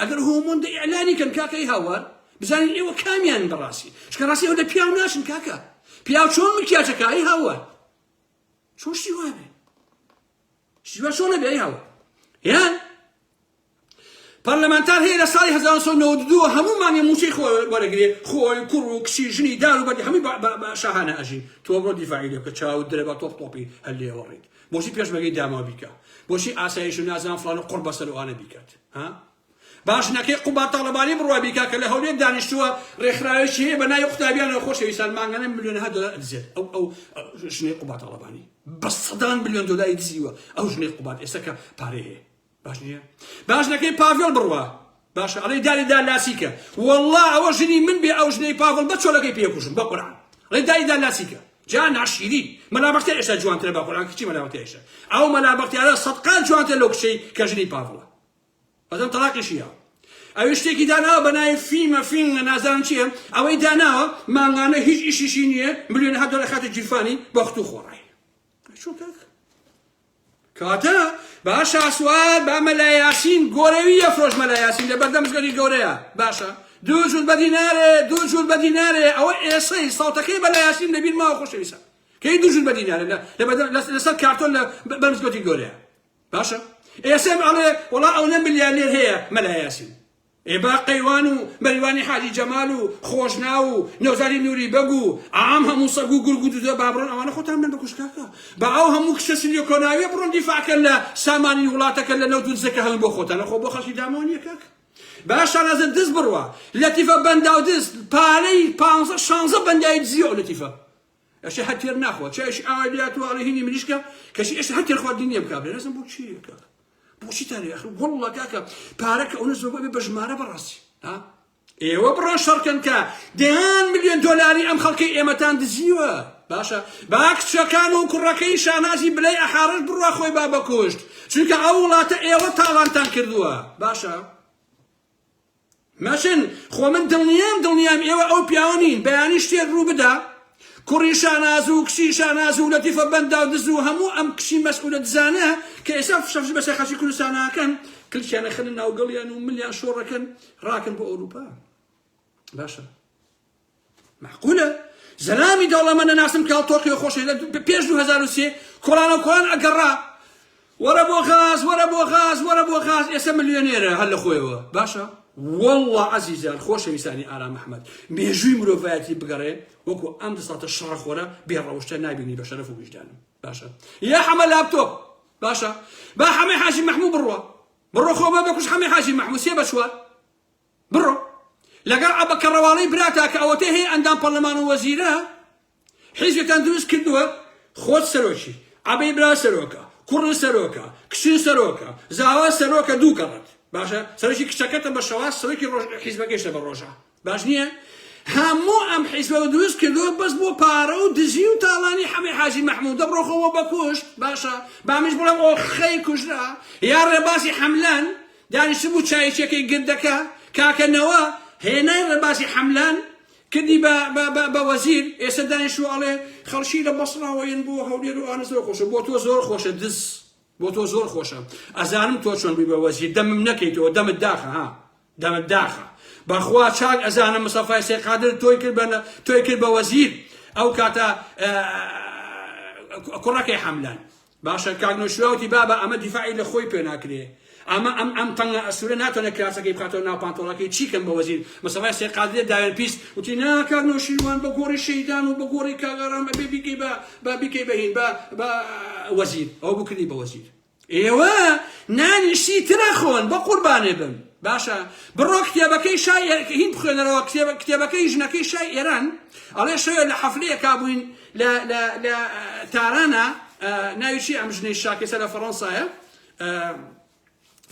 ئەگەر هۆمۆندە ئیعلانی کەن کاکەی هاوار بزانین ئێوە کامیان بەڕاستی چکە ڕاستی ئەو لە پیاو ناشن کاکە پیاو چۆن مکیاجەکایی هاوار چۆن شتی وابێ شتی وا چۆنە بێ هاوار یان پەرلەمانتار هەیە لە ساڵی 1992 هەمومانی موچەی خۆ وەرەگرێ خۆی کوڕ و کچی ژنی دار و بەردی هەمووی شاهانە ئەژین تۆ بۆ دیفاعی لێ بکە چاو درە بە تۆپ تۆپی هەر لێوەڕیت بۆچی پێشمەرگەی داماو بیکا بۆچی ئاسایش و نازان فلان و قڕ بەسەر ئەوانە بیکات ها باش نەکەی قوبا تاڵەبانی بڕوا بیکا کە لە هەولێر دانیشتووە ڕێکخراوێکی هەیە بە ناوی قوتابیانەوە خۆشەویستان مانگانە ملیۆنها دۆلار ئەدزێت ئەو ئەو ژنەی قوبا تاڵەبانی بە سەدان ملیۆن دۆلاری دزیوە ئەو ژنەی قوبات ئێستا کە پارەی هەیە باش نیە باش نەکەی پاڤێڵ بڕوا باشە ئەڵێ داری دا لاسیکە والله ئەوە ژنی من بێ ئەو ژنەی پاڤڵ بە چۆلەکەی پێکوشم بە قورعان ڵێ داری دا لاسیکە جا ناشیری مەلا بەختیار ئێستا جوانترە بە قورعان کچی مەلا بەختیارشە ئەو مەلا بەختیارە سەدقان جوانتر لەو کچەی کە ژنی پاڤڵە بەدەم تەلاقیشی یاوە ئەوی شتێکی داناوە بەناوی فیمە فینگە نازان چییە ئەوەی داناوە مانگانە هیچ ئیشیشی نییە ملیۆن هەدۆ لە خاتە جیرفانی بەخت و خۆڕای چۆن کاک کاتە با شاسوار با مەلا یاسین گۆرەوی یەفرۆش مەلا یاسین لە بەردەم زگەری گەورەیە باشە دوو جوول بە دینارێ دوو جوول بە دینارێ ئەوە ئێسەی ساڵتەکەی بەلا یاسین لەبیر ماوە خۆشەویسە کەی دوو جوول بە دینارێ لەسەر کارتۆن لە بەرزگەتی گەورەیە باشە ئێسم ئەڵێ وڵا ئەو نە ملیارێر هەیە مەلا یاسین ئێ با قەیوان و مەریوانی حاجی جەمال و خۆشناو و نەوزادی نوری بەگ و عام هەموو سەگ و گورگ و دودە با بڕۆن ئەوانە خۆتان بدەن بە کوشکاکە با ئەو هەموو کچە سنیە کۆناویە بڕۆن دیفاع کەن لە سامانی وڵاتەکە لە نەوت و دزەکە هەڵن بۆ خۆتان ئەخۆ بۆ خەڵکی داماو نیە کاک با شانازە دز بڕوا لەتیفە بەنداو دز پارەی پانزە شانزە بەندای دزیە ئەو لەتیفە ئەشێ هەر تێر ناخوا چایش ئاوای لاتوە ئەڵێ هینی مریشکە کەشی ئێشتا هەر تێر خواردنی نییە بکا بێ نەزم بۆ چی کاکە بۆچی تا لێ ئەخر وەڵڵا کاکە پارە کە ئەوە زۆر بە ژمارە بەڕاستی ها ئێوە بڕۆ شەڕکەن کە دەیان ملیۆن دۆلاری ئەم خەڵکی ئێمەتان دزیوە باشە با کچەکان و کوڕەکەی شانازی بلەی ئەحارش بڕوا خۆی با بەکوشت چونکە ئەو وڵاتە ئێوە تاوانتان کردووە باشە مەچن خۆ من دڵنیام دڵنیام ئێوە ئەو پیاوە نین بەیانی شتێک ڕوو بدا کوڕی شاناز و کچی شاناز و لەتیفە بەندا و دز و هەموو ئەم کچی مەسئولە دزانە کە ئێستا فشەفش بەسەر خەڵکی کوردستاناکەن کلکیانە خەنە ناوگەڵیان و ملیان شۆڕەکەن ڕاکەن بۆ ئەوروپا باشە مەعقولە زەلامی دەوڵەمە نەناسم کاڵ تۆقیۆ خۆشی لە پێش 2023 کۆڵان و کۆڵان ئەگەڕا وەرە بۆ غاز وەرە بۆ غاز وەرە بۆ غاز ئێستا ملیۆنێرە هەر لە خۆیەوە باشە والله عزیزان خۆشەویستانی ئارام محمد مێژووی مرۆڤایەتی بگەڕێ وەکو ئەم دەساتە شەڕخۆرە بێڕەوشتە نابینی بە شەرف و ویژدانم باشە یا حەمە لاپتۆپ باشە با حەمە حاجی محمود بڕوە بڕۆ خۆ بە بەکوش حەمە حاجی محمود سێ بەچوە بڕۆ لەگەڵ عەبە کەڕەواڵەی براتا کە ئەوەتەی هەیە ئەندام پەڕلەمان و وەزیرە حیزبتان دروست کردووە خۆت سەرۆکی عەبەی برا سەرۆکە کوڕن سەرۆکە کچن سەرۆکە زاوا سەرۆکە دوو گەڕت باشە سەرۆکی کچەکەتە بە شەواز سەرۆکی ڕۆژ حیزبەکەشتە بە ڕۆژە باش نییە هەموو ئەم حیزبە و دروست کردووە بەس بۆ پارە و دزی و تاڵانی حەمەی حاجی مەحموود دەبڕۆخەوە بەکوشت باشە بامیش بڵێم ئۆخەی کوژرا یا ڕێبازی حەملەن دانیشتبوو چاییچێکەی گردەکە، کاکە نەوە هێنای ڕێبازی حەملان کردی بە بە بە وەزیر، ئێستا دانیشتووە ئەڵێ خەڵکی لە بەسڕاوە یەن بۆ هەولێر و ئانە زۆر خۆشە، بۆ تۆ زۆر خۆشە دز، بۆ تۆ زۆر خۆشە، ئەزانم تۆ چۆن بووی بە وەزیر، دەمم نەکەیتەوە، دەمت داخە ها، دەمت داخە، بەخوا چاک ئەزانم مستەفای سەید قادر تۆی کرد بە تۆی کرد بە وەزیر، ئەو کاتە کوڕەکەی حەملان. باشە کاک نۆشیروان وتی بابە ئەمە دیفاعی لە خۆی پێ ناکرێ ئەمە ئەم ئەم تەنگە ئەسورە ناتوانێت کراسەکەی بخاتەوە ناو پانتۆڵەکەی چی کەم بە وەزیر مستەفای سێ قادرێ داوێن پیس وتی نا کاک نۆشیروان بە گۆڕی شەیدان و بە گۆڕی کاک ئارام ئەبێ بیکەی بە بە بیکەی بە هین بە بە وەزیر ئەوە بوو کردی بە وەزیر ئێوە نانی شتی تر ئەخۆن بە قوربانێ بم باشە بڕۆ کتێبەکەی شای هین بخوێنەرەوە کتێبە کتێبەکەی ژنەکەی شای ئێران ئەڵێ شەوێ لە حەفلەیەکا بووین لە لە لە تارانە ناوی چی ئەم ژنەی شاکێسە لە فەڕەنسایە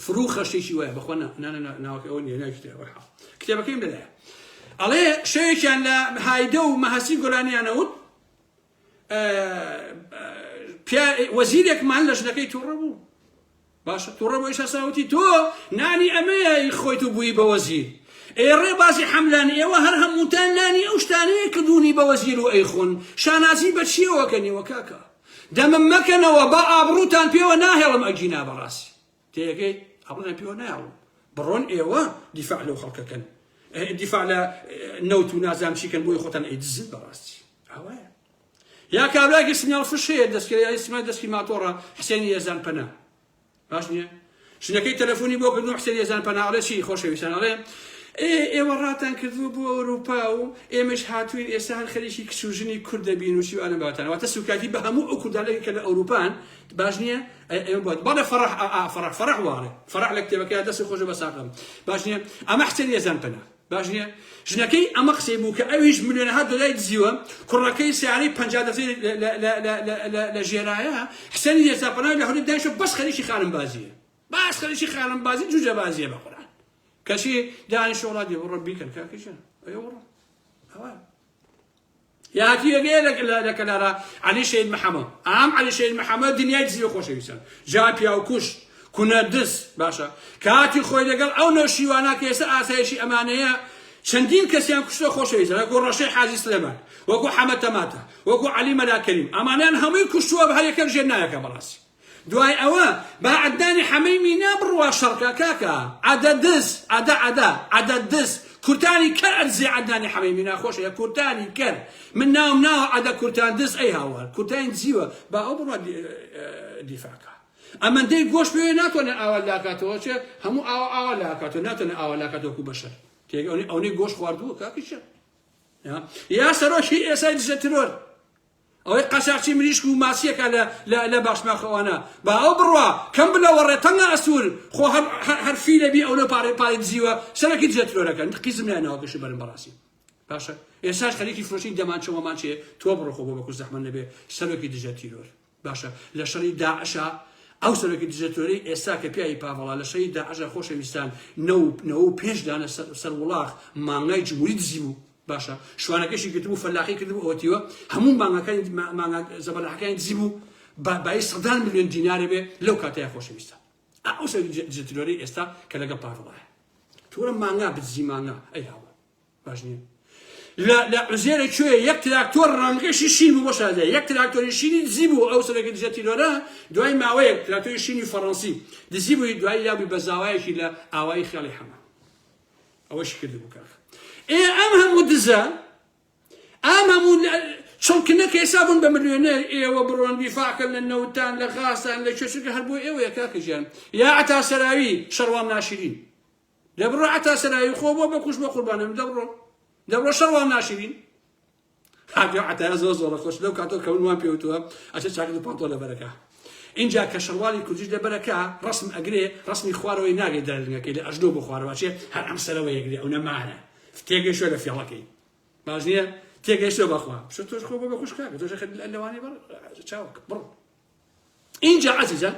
فرو خەشتێکی وایە بەخۆ ناوەکە ئەوە نیە ناوی کتێبە حاڵ کتێبەکەیم لەلایە ئەڵێ شەوێکیان لە هایدە و مەهەسی گۆرانیانەوت وەزیرێکمان لە ژنەکەی تووڕە بوو باشە توڕە بۆ ئیسا ساوتی تۆ نانی ئەمەیە ی خۆیت و بووی بە وەزیر ئێ ڕێ بازی حەملان ئێوە هەر هەمووتان نانی ئەو شتانەیە کە بوونی بە وەزیر و ئەیخۆن شانازی بە چیەوە کە نیوە کاکە دەمم مەکەنەوە با ئابڕووتان پێوە ناهێڵم ئەگینا بەڕاستی تێگەی ئەڵێن پێوە ناڵم بڕۆن ئێوە دیفاع لەو خەڵکەکەن دیفاع لە نەوت و نازام چیکەن بۆی خۆتان ئەیدزن بەڕاستی ئەوەیە یا کابرایەکی سمیاڵ فش هەیە دەستکرێ سمای دەستی ماتۆڕە حسێنی ئێزان پەنا باش نییە ژنەکەی تەلەفۆنی بۆ کردن حسێن ئێزان پەنا ئەڵێ چی خۆشەویستان ئەڵێ ئێوە ڕاتان کردووە بۆ ئەوروپا و ئێمەش هاتوین ئێستا هەر خەریکی کچ و ژنی کورد دەبین و چی ئەلم باتان واتە سوکایتی بە هەموو ئەو کوردانەی کە لە ئەوروپان باش نییە ئێمە بۆت بەڵێ فەرح ئا فەرح فەرح واڵێ فەرح لە کتێبەکەی دەست خۆشە بە ساقم باش نییە ئەمە حسێن ئێزان پەنا باش نیە؟ ژنەکەی ئەمە قسەی بوو کە ئەویش ملیۆنەها دۆلاری دزیوە، کوڕەکەی سەیارەی پەنجا دەزەی لە ژێرایە، حسێنی یەسا پەناوی لە هەولێر دانیشتووە بەس خەریکی خانمبازییە. بەس خەریکی خانمبازی جوجەبازییە بە قورئان. کەچی دانیشتووە وڵا دێ بڕۆ بیکەن کاکە گیان. ئەی وەڵا. ئەوە. یاکیەگەیە لە لە کەلارا عەلی شەید محەمەد ئام عەلی شەید محەمەد دنیای دزیو خۆشەویستان جا پیاو کوش کونە دز باشە کاتی خۆی لەگەڵ ئەو نەوشیوانە کە ئێستا ئاسایشی ئەمانەیە چەندین کەسیان کوشتە خۆشەویستە وەکو ڕەشەی حازی سلێمان وەکو حەمە تەماتە وەکو عەلی مەلا کەریم ئەمانیان هەمووی کوشتووە بە هەر یەکەک ژێر ناوێکە بەڕاستی دوای ئەوە با عەدنانی حەمەی مینا بڕوا شەڕکا کاکە عەدە دز عەدە عەدە عەدە دز کورتانی کەر ئەدزی عەدنانی حەمەی مینا خۆش ئەوێ کورتانی کەر من ناوم ناوە عەدە کورتان دز ئەی هاوار کورتانی دزیوە با ئەو بڕوا دیفاکە ئەمەندەی گۆش پێوێ ناتوانێت ئاوا لاکاتەوە چێ هەموو ئاوا ئاوا لاکاتەوە ناتوانێت ئاوا لاکاتەوە کو بەشەر تێگەونی ئەونەی گۆش خواردووە کاکیشە یا سەرۆکی ئێسای دژە ترۆر ئەوەی قاچاخچی مریشک و ماسیەکە لە لە لە باشماخەوانە با ئەو بڕوا کەم بلە وەڕێ تەنگە ئەسوور خۆ هەر هەر فیلە بی ئەو لە پارێ پارێ دزیوە سەرەکی دزە ترۆرەکە قیزم لای ناوە گەشی بەرم بەڕاستی باشە ئێساش خەریکی فرۆشی دەمانچە وەمانچێ تۆ بڕۆ خۆ بۆ بەکوس زەحمەت نەبێ سەرۆکی دژە تیرۆر باشە لە شەڕی داعشە ئەو سەرۆکی دژە تۆری ئێستا کە پیاوی پاڤڵا لە شەری داعشە خۆشەویستان نەو نەوە و پێنج دانە سەر وڵاخ مانگای جمهوری دزی بوو باشە شوانەکەشی گرتبوو فەلاقی کردبوو ئەوە تیوە هەموو مانگەکانی مانگا زەبەلاحەکانی دزی بوو با بای سەدان ملیۆن دینارێ بێ لەو کاتەیە خۆشەویستە ئەو سەر جترۆری ئێستا کە لەگەڵ پاڤڵایە تورە مانگا بدزی مانگا ئەی هاوە باش نییە لە لە عزێرە کوێ یەک تراکتۆر ڕەنگەشی شین بوو بەشادە یەک تراکتۆری شینی دزی بوو ئەو سەرەکە دژە تیرۆرە دوای ماوەیەک تراکتۆری شینی فەڕەنسی دزی بووی دوای لابووی بە زاوایەکی لە ئاوایی خێڵی حەمە ئەوەشی کردبوو کاخ ئێ ئەم هەموو دزە ئام هەموو چڵکنە کە ئێسا بوون بە ملیۆنێر ئێوە بڕۆن ویفاکەن لە نەوتان لە غازتان لە چێچکە هەر بۆ ئێوەیە کاکەژیان یا عتا سەراوی شەڕوان ناشرین دەبڕۆ عتا سەراوی خۆ بۆ بەکوش بە قوربانم دەبڕۆ دەبڕۆ شەڕوان ناشرین کاکە عەتایە زۆر زۆڕە خۆش لەو کاتەوە کە من وام پێوتوە ئەچێ چاکت و پانتۆ لە بەرەکە ئینجا کە شەروالی کوردیش لە بەرەکە ڕەسم ئەگرێ ڕەسمی خوارەوەی ناگەی دەرلنگەکەی لە ئەژنۆ بۆ خوارەوە ئەچێ هەر ئەم سەرەوە یەگرێ ئەونە مارە تێگەشتوە لە فێڵەکەی باش نییە تێگەشتوە بەخوا شتۆش خۆ بە خوشکاکە تۆش خەت لەوانەی بەڕ چاوک بڕ ئینجا عەزیزان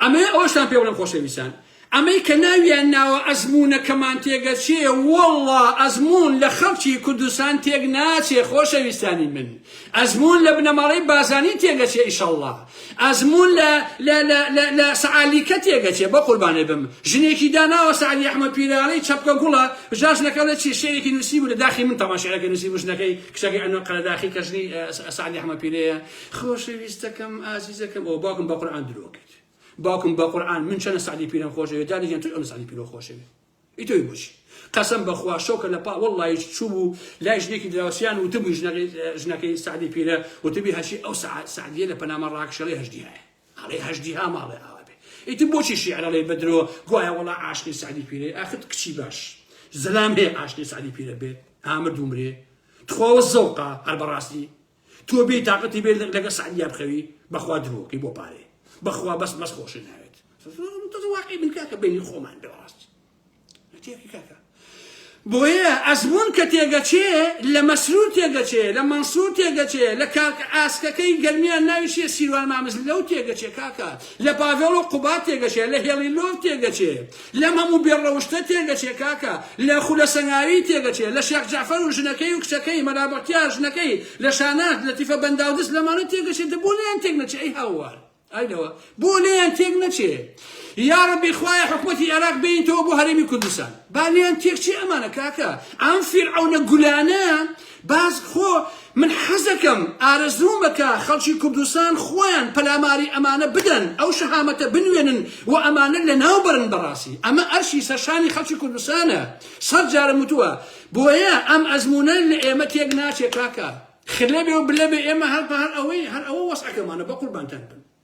ئەمەیە ئەوەشتان پێ بڵێم خۆشەویستان ئەمەی کە ناویان ناوە ئەزمونونەکەمان تێگەچێ وەڵا ئەزمون لە خەڵکی کوردستان تێک ناچێ خۆشەویستانی من ئەزمون لە بنەماڵەی بازانی تێگەچێ ئیشەڵڵا ئەزمون لە سەعالیکە تێگەچێ بە قوربانێ بم ژنێکی داناوە سەعلی ئەحمە پیرانەی چەپکە گوڵە ژاژنەکە لە چی شێرێکی نووسی بوو لە داخی من تەماشێرەکە نووسی بژنەکەی کچەکەی ئەنە قەرەداخی کەژنی سەعلی ئەحمە پیرەیە خۆشەویستەکەم ئازیزەکەم ئەوە باوکم بە قورعان درۆکەیت باوکم بە قورعان من چەنە سعدی پیرم خۆشەوێت داری گیان تۆ ئەم سعدی پیرۆ خۆشەوێت ئیتۆی بۆچی قەسم بەخوا شەوکە لە پا وەڵی چوو بوو لای ژنێکی دراوسیان وتبووی ژنەکەی سعدی پیرە وتبی هەشی ئەو سعدیە لە پەنامە ڕاکشەڵی هەشدی هەیە ئەڵێ هەشدی ها ماڵێ ئاوا بێ ئیتی بۆچی شیعرەڵی بەدرۆ گوایە وەڵا عاشقی سعدی پیرە ئاخت کچی باش زەلام هەیە عاشقی سعدی پیرە بێت ئامر دومرێ تخواوە زەوقا هەر بەڕاستی تۆ بێ تاقەتی بێ لەگە سعدیا بخەوی بەخوا درۆکەی بۆ پارێ بەخوا بەس بەس خۆشی ناوێت واقعی من کاکە بینی خۆمان بەڕاست تێکی کاکە بۆیە ئەزمون کە تێگەچێ لە مەسرور تێگەچێ لە مەنسور تێگەچێ لە کاک ئاسکەکەی گەرمیان ناویشێ سیروان مامز لەو تێگەچێ کاکە لە پاڤێڵ و قوبات تێگەچێ لە هێڵی لۆڤ تێگەچێ لەم هەموو بێ ڕەوشتە تێگەچێ کاکە لە خولە سەنگاوی تێگەچێ لە شێخ جەعفەر و ژنەکەی و کچەکەی مەلا بەختیار ژنەکەی لە شاناز لەتیفە بەنداو دز لەمانە تێگەچێ دە بۆ لێیان تێک نەچێ ئەی هاوار ئای لەوە بۆ لێیان تێک نەچێ یاڕەبی خوایە حکومەتی عێراق بێنیتەوە بۆ هەرێمی کوردستان با لێیان تێک چێ ئەمانە کاکە ئەم فیرعەونە گولانە باز خۆ من حەزەکەم ئارەزوومە کە خەڵکی کوردستان خۆیان پەلاماری ئەمانە بدەن ئەو شەهامەتە بنوێنن و ئەمانە لەناو بەرن بەڕاستی ئەمە ئەرشی سەرشانی خەڵکی کوردستانە سەد جارم وتووە بۆیە ئەم ئەزموونە لە ئێمە تێک ناچێ کاکە خلەبێ و بلەبێ ئێمە هەر بە هەر ئەوەی هەر ئەوە وەسعەکەمانە بە قوربانتان بم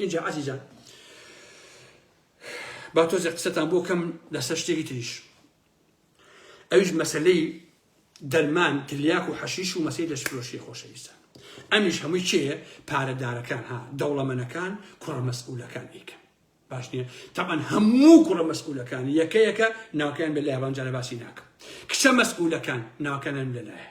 ئینجا عەزیزان با تۆزێ قسەتان بۆ کەم لەسەر شتێکی تریش ئەویش مەسلەی دەرمان تلیاک و حەشیش و مەسەی لەشفرۆشی خۆشەویستان ئەمیش هەمووی چێ پارەدارەکان ها دەوڵەمەنەکان کوڕە مەسئولەکان ئیکەن باش نییە تاان هەموو کوڕە مەسئولەکان یەکەیەکە ناوکەیان بە لایوانجارە باسی ناکەم کچە مەسئولەکان ناوکەنان لەلایە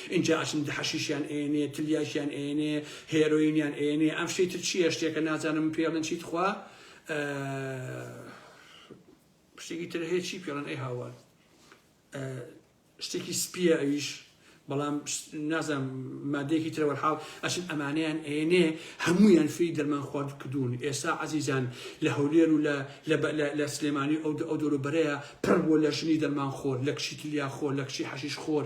ئینجا ئەچن حەشیشیان ئەیەنێ تلیاکیان ئەیەنێ هێرۆینیان ئەیەنێ ئەم شتەی تر چیە شتێکە نازانم پێڵن چی تخوا شتێکی تر هەیە چی پێڵن ئەی هاوار شتێکی سپیە ئەویش بەڵام نازم مادەیەکی ترەوە حاڵ ئەشن ئەمانیان ئێنێ هەمویان فی دەرمان خوارد کردوون ئێستا عزیزان لە هەولێر و لە سلێمانی ئەو ئەو دەورو بەرەیە پڕ بۆ لە ژنی دەرمان خۆر لە کشی تلیا خۆر لە کشی حەشیش خۆر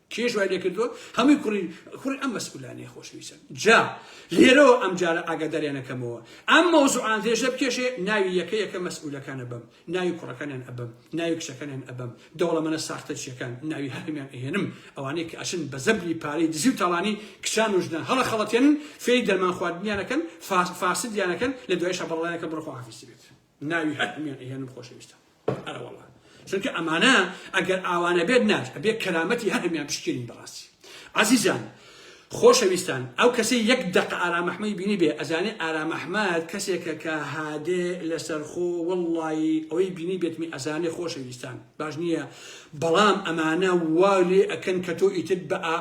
کێش وای لێکردووە هەمووی کوڕی کوڕی ئەم مەسئولانەیە خۆشەویستان جا لێرەوە ئەمجارە ئاگاداریان ئەکەمەوە ئەم مەوزوعان درێژە بکێشێ ناوی یەکە یەکە مەسئولەکان ئەبەم ناوی کوڕەکانیان ئەبەم ناوی کچەکانیان ئەبەم دەوڵەمەنە ساختەچیەکان ناوی هەرمیان ئەهێنم ئەوانەی کە ئەچن بە زەبری پارەی دزی و تاڵانی کچان و ژنان هەڵە خەڵەتێنن فێری دەرمان خواردنیانەکەن فاسدیانەکەن لە دوایشە بەڕڵایەکە بڕخوا حافیزی بێت ناوی هەر هەمیان ئەهێنم خۆشەویستان ئەرەوەڵا چونکە ئەمانە ئەگەر ئاوانە بێت ناچ ئەبێ کەرامەتی هەر هەمیان پشکێنین بەڕاستی عزیزان خۆشەویستان ئەو کەسی یەک دەق ئارامەحمەی بینی بێ ئەزانێ ئارامەحمد کەسێکە کە هادێ لەسەرخۆ وەڵی ئەوەی بینی بێتمی ئەزانێ خۆشەویستان باش نیە بەڵام ئەمانە وا لێ ئەکەن کە تۆ ئیتر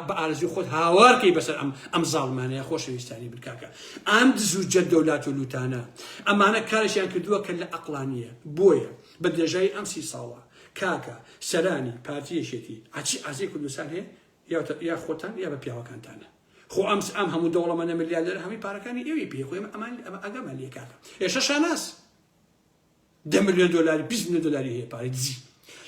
بە ئارزوی خۆت هاوارکەی بەسەر ئەم ئەم زاڵمانەیە خۆشەویستانی بکاکە ئام دزو جەردە و لات و لوتانە ئەمانە کارشیان کردووە کە لە ئەقلانیە بۆیە بە درێژایی ئەم سی ساڵە کاکە سەرانی پارتیەشێتی ئەچی ئازی کوردستان هەیە یا خۆتان یا بە پیاوەکانتانە خۆ ئەمس ئەم هەموو دەوڵەمەە ملیاردەر هەمی پارەکانی ئەوی پێ خۆیم ئەمان ئەگەمە لێکاکە ئێشە شاناس دە ملیۆن دۆلاری بیست ملیۆن دۆلاری هەیە پارەی دزی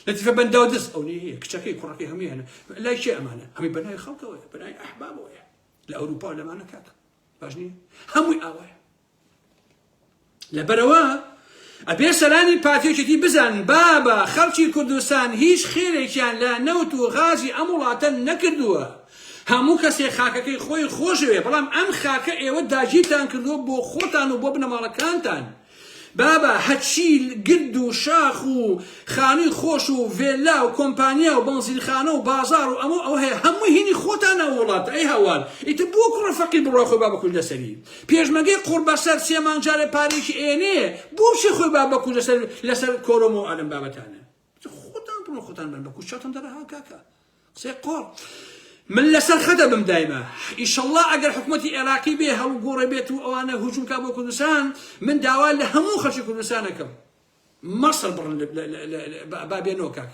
لەتیفە بەنداو دز ئەونەی هەیە کچەکەی کوڕەکەی هەمووی هەنە لای کێ ئەمانە ئەمەی بەناوی خەڵکەوەیە بەناوی ئەحبابەوەیە لە ئەوروپا و لەمانە کاکە باش نییە هەمووی ئاوایە لەبەرەوە ئەبێ سەرانی پاتێکێتی بزان بابە خەڵکی کوردستان هیچ خێرێکیان لە نەوت و غازی ئەم وڵاتە نەکردووە هەموو کەسێک خاکەکەی خۆی خۆشەوێ بەڵام ئەم خاکە ئێوە داگیرتان کردووە بۆ خۆتان و بۆ بنەماڵەکانتان بابە هەچی گرد و شاخ و خانوی خۆش و ڤێلا و کۆمپانیا و بەنزینخانە و بازار و ئەمەو ئەوە هەیە هەمووی هینی خۆتانە ئەو وڵاتە ئەی هەوار ئیتر بۆ کوڕە فەقیر بڕوا خۆی با بە کوژدە سەری پێشمەگەی قوڕبەسەر سێ مانگ جارێ پارەیەکی ئەیەنێ بۆ چی خۆی با بە کوژدە سەر لەسەر کۆرۆمۆ ئەلەم بابەتانە خۆتان بڕۆ خۆتان بن بە کوشتان دەرەها کاکە قسەی قۆڕ من لەسەر خەدە بم دایمە ئیشەڵڵا ئەگەر حکوومەتی عێراقی بێ هەڵ گۆڕێ بێت و ئەوانە هجوومکە بۆ کوردستان من داوا لە هەموو خەچی کوردستانەکەم مەسر بڕن بابێنەوە کاک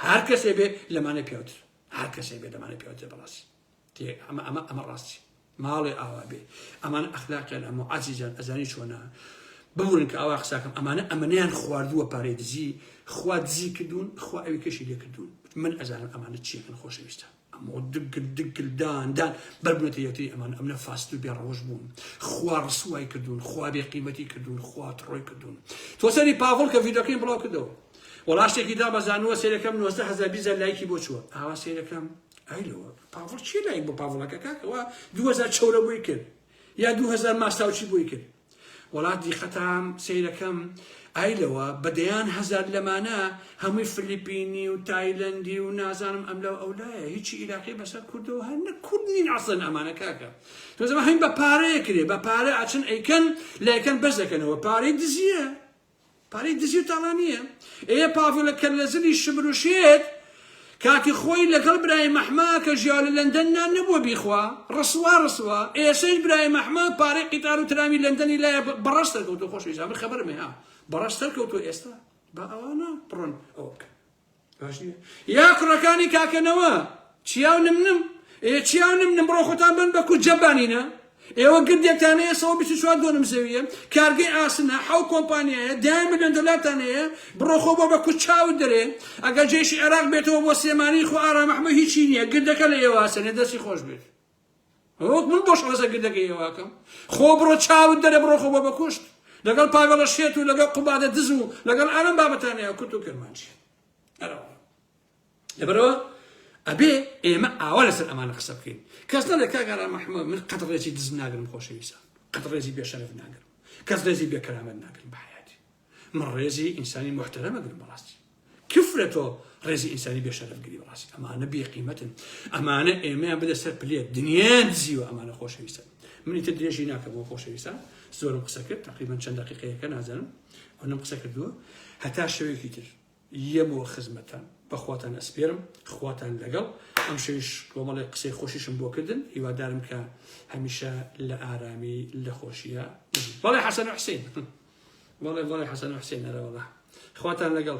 هەر کەسێ بێ لەمانە پیاوتر هەر کەسێ بێ لەمانە پیاوتر بەڕاستی تێ ئەمە ئەمە ئەمە ڕاستی ماڵێ ئاوا بێ ئەمان ئەخلاقیان ئەمە عزیزان ئەزانی چۆنا ببورن کە ئاوا قساکەم ئەمانە ئەمەیان خواردووە پارەی دزی خوا دزی کردوون خوا ئەوی کەشی لێ کردوون من ئەزانم ئەمانە چیەکەن خۆشەویستە ئەمە دگل دگلداندان بەربنێتە یەکتری ئەمان ئەمە فاست و بێڕەوش بوون خوا ڕسوای کردوون خوا بێ قیمەتی کردوون خوا تڕۆی کردوون تۆسەری پاڤڵ کە ڤیدۆکەی بڵاو کردەوە وەڵاشتێکی دا بەزانوە سێرەکەم 90 هزار بیزە لایکی بۆ چووە ئاوا سێرەکەم ئەیلەوە پاڤڵ چی لای بۆ پاڤڵەکە کاکەوە دوهزار چەورە بۆی کرد یا دوهزار ماستاوچی بۆی کرد وڵات دیقەتام سیرەکەم ئایلەوە بەدەیان هەزار لەمانە هەمووی فلیپینی و تایلندی و نازانم ئەم لەو ئەولایە هیچی عیراقی بەسەر کوردەوە هەر نە کورد نین ئەسن ئەمانە کاکە تۆزەمە هەین بە پارەیە کرێ بە پارە ئاچن ئەیکەن لایکەن بەس دەکەنەوە پارەی دزیە پارەی دزی و تاڵانیە. ئێ پاڤلە کەر لە زلی شمر و شێت کاتی خۆی لە گەڵ برای مەحما کە ژیاو لە لەندەن نان نەبووە بیخوا ڕسوا ڕسوا ئێسەیش برای مەحما پارەی قیتار و ترامی لەندەنی لایە بە ڕەش سەرکەوتوە خۆشەویستان من خەبەرم هەیە بە ڕەش سەرکەوتوە ئێستا با ئەوانە بڕۆن ئەوە بکەن باش نیە یا کوڕەکانی کاکە نەوە چیاو نم نم ئێ چیاو نم نم بڕۆ خۆتان بن بە کوجە بانینە ئێوە گردێکتان هەیە سەوە بیست و چوار دۆنم زەویە کارگەی ئاسنە حەو کۆمپانیایە دەیان ملیۆن دۆلارتان هەیە بڕۆ خۆ بۆ بە کوچ چاوت دەرێ ئەگەر جێشی عێراق بێتەوە بۆ سلێمانی خۆ ئارام ئەحمە هیچی نییە گردەکە لە ئێوە ئاسنێ دەستی خۆش بێت ڕۆک من بۆ شڕەزە گردەکەی ئێواکەم خۆ بڕۆ چاوت دەرە بڕۆ خۆ بە بەکوشت لەگەڵ پاگەڵە شێت و لەگەڵ قوبادە دز و لەگەڵ ئەرم بابەتانەیە کورت و کرمانجی لەبەرەوە ئەبێ ئێمە ئاوا لەسەر ئەمانە قسە بکەین کەس نەڵێ کاگەرا مححمە من قەت ڕێزی دز ناگرم خۆشەویستان قەت ڕێزی بێشەرف ناگرم کەس ڕێزی بێکەرامەت ناگرم بەحیاتی من ڕێزی ئینسانی موحتەرەم ئەگرم بەڕاستی کفرە تۆ ڕێزی ئینسانی بێشەرف گری بەڕاستی ئەمانە بێ قیمەتن ئەمانە ئێمەیان بدە سەر پلێت دنیان دزیوە ئەمانە خۆشەویستن منی تر درێژی ناکەم بۆ خۆشەویستان زۆرم قسە کرد تقریبا چەند دقیقەیەکە نازانم ئەونم قسە کردووە هەتا شەوێکی تر یەم و خزمەتان بەخواتان ئەسپێرم خواتان لەگەڵ ئەمشەویش کۆمەڵێک قسەی خۆشیشم بۆ کردن هیوادارم کە هەمیشە لە ئارامی لە خۆشیە بژی بەڵێ حەسەن و حسین بەڵێ بەڵێ حەسەن و حسین نەرەوەڵا خواتان لەگەڵ